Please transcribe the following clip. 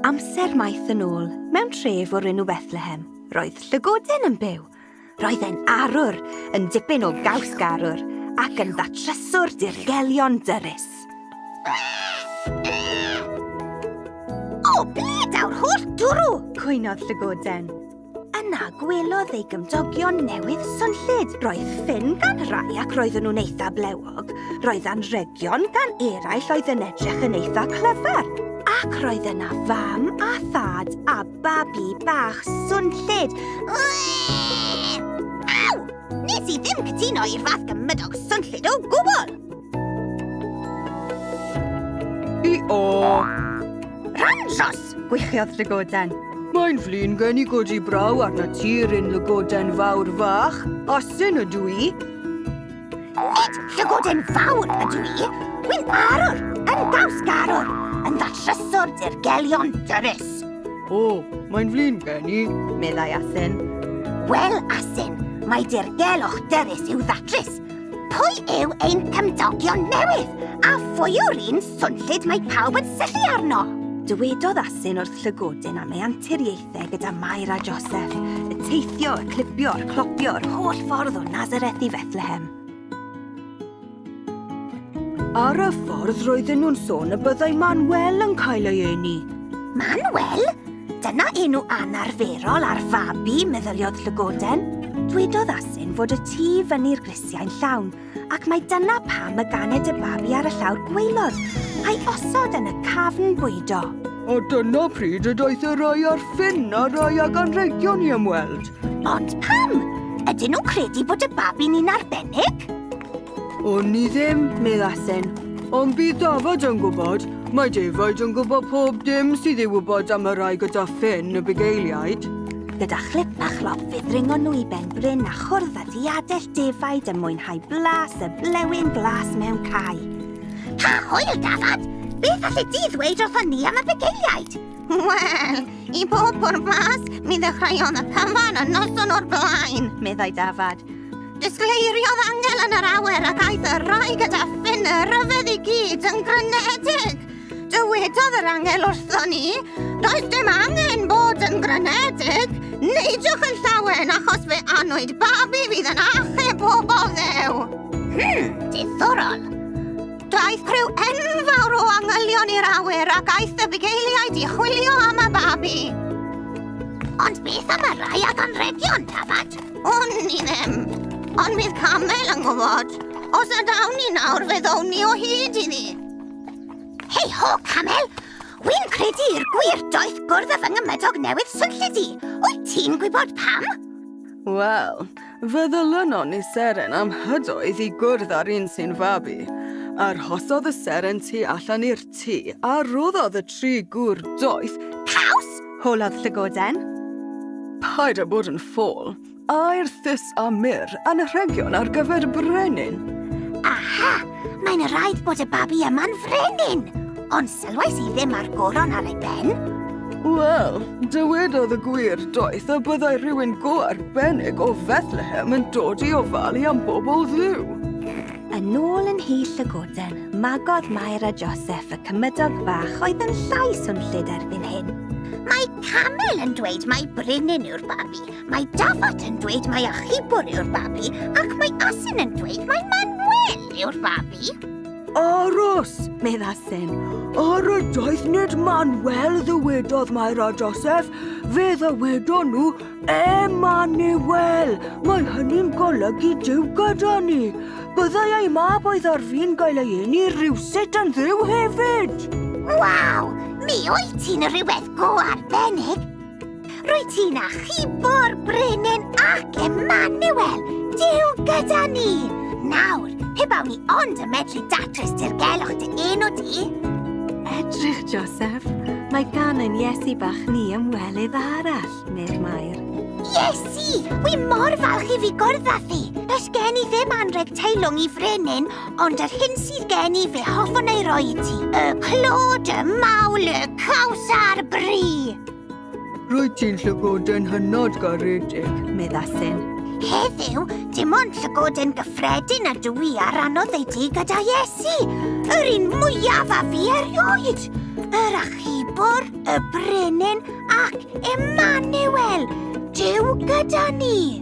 Amser maith yn ôl, mewn tref o'r enw Bethlehem, roedd llygoden yn byw. Roedd e'n arwr, yn dipyn o gaws garwr, ac yn ddatryswr dirgelion dyrus. O, ble daw'r holl dwrw? Cwynodd llygoden. Yna gwelodd ei gymdogion newydd swnllyd. Roedd ffyn gan rai ac roedden nhw'n eitha blewog. Roedd anrhegion gan eraill oedd yn edrych yn eitha clyfar. Ac roedd yna fam a thad a babi bach swnllyd. Aw! Nes i ddim cytuno i'r fath gymydog swnllyd o gwbl! I o! Randros! Gwychiodd Llygoden. Mae'n flin gen i godi braw arna ti, Ryn Lygoden Fawr Fach. Asyn ydw i. Nid Llygoden Fawr ydw i. Wy'n arwr, yn gaws garwr, yn ddattryswr dirgelion dyrus. O, mae'n flin gen i. Meddai Asyn. Wel, Asyn, mae dirgelwch dyfus i'w ddatrys. Pwy yw ein cymdogion newydd? A phwy yw'r un swnllyd mae pawb yn syllu arno? Dywedodd Asyn wrth llygodyn am ei anturiaethau gyda Mair a Joseph, y teithio, y clipio, y clopio, yr holl ffordd o Nazareth i Fethlehem. Ar y ffordd roedden nhw'n sôn y byddai Manuel yn cael ei eni. Manuel? Dyna enw anarferol ar fabi, meddyliodd Llygoden. Dwedodd Asyn fod y tu fyny'r grisiau'n llawn, ac mae dyna pam y ganed y babi ar y llawr gweilod, a'i osod yn y cafn bwydo. A dyna pryd y daeth y rai ar ffin a rai ag anrhegion i ymweld. Ond pam? Ydyn nhw'n credu bod y babi'n un arbennig? O'n i ddim, meddasen. Ond bydd Dafod yn gwybod. Mae defaid yn gwybod pob dim sydd i wybod am y rai gyda ffyn y bugeiliaid. Gyda chlip a chlop fe ddringon nhw i ben bryn a chwrdd â diadell defaid yn mwynhau blas y blewyn glas mewn cae. Pa hwyl, Dafod! Beth allet ti ddweud wrthon ni am y bugeiliaid? Wel, i bob pwrpas, mi ddechreuodd y cyfan y noson o'r blaen, meddai Dafod. Disgleiriodd Angel yn yr awyr ac aeth y rhai gyda ffyn y rhyfedd i gyd yn grynedig. Dywedodd yr angel wrthon ni, does dim angen bod yn grynedig, neidiwch yn llawen achos fe anwyd babi fydd yn achub pobl ddew. Hmm, diddorol. Daeth criw enfawr o angylion i'r awyr ac aeth y bugeiliaid i chwilio am y babi. Ond beth am y rhai ag anregion, Tafad? O'n i ddim. Ond bydd Camel yn gwybod. Os nad awn ni nawr, fe ddown ni o hyd i ni. Hei ho, Camel! Wy'n credu i'r gwir doeth gwrdd â fy ngymydog newydd swnllyd i. Wyt ti'n gwybod pam? Wel, fe ddylynon ni seren am hydoedd i gwrdd â'r un sy'n fabi. Arhosodd y seren tu allan i'r tŷ a roddodd y tri gŵr doeth... Caws? Holodd llygoden. Paid â bod yn ffôl. Aer thus a myr, anrhegion ar gyfer y brenin. Aha! Mae'n rhaid bod y babi yma'n frenin! Ond sylwais i ddim ar goron ar ei ben. Wel, dywedodd y gwir doeth y byddai rhywun go arbennig o Fethlehem yn dod i ofalu am bobl ddiw. Yn ôl yn Nhy Llygoden, magodd Mair a Joseph y cymydog fach oedd yn llai swnllyd erbyn hyn. Mae camel yn dweud mae brinyn yw'r babi, mae dafod yn dweud mae achubwr yw'r babi, ac mae asyn yn dweud mae Manuel yw'r babi. Aros, meddasen. Ar y doeth nid Manuel ddywedodd Mair a Joseph, fe ddywedon nhw Emmanuel! Mae hynny'n golygu Duw gyda ni. Byddai ei mab oedd ar fin gael ei eni rhywsut yn dduw hefyd. Waw! Mi wyt ti'n rhywbeth go arbennig. Rwy ti'n achubo'r brenin ac Emmanuel, Duw gyda ni. Nawr, pe bawn ni ond yn medru datrys dirgelwch dy enw di. Edrych, Joseph. Mae gan ein Iesu bach ni ymwelydd arall. Mair, Mair. Iesu! Wi mor falch i fi gwrdd â thi. Does gen i ddim anreg teilwng i frenin, ond yr hyn sydd gen i fe hoffwn ei roi i ti. Y clod, y mawl, y caws a'r bri! Rwyt ti'n llygoden hynod garedig. Meddasyn. Heddiw, dim ond llygoden gyffredin a dw i ar anodd ei di gyda Iesu. Yr un mwyaf a fi erioed. Yr achubwr. y brenin ac Emmanuel, Dyw gyda ni!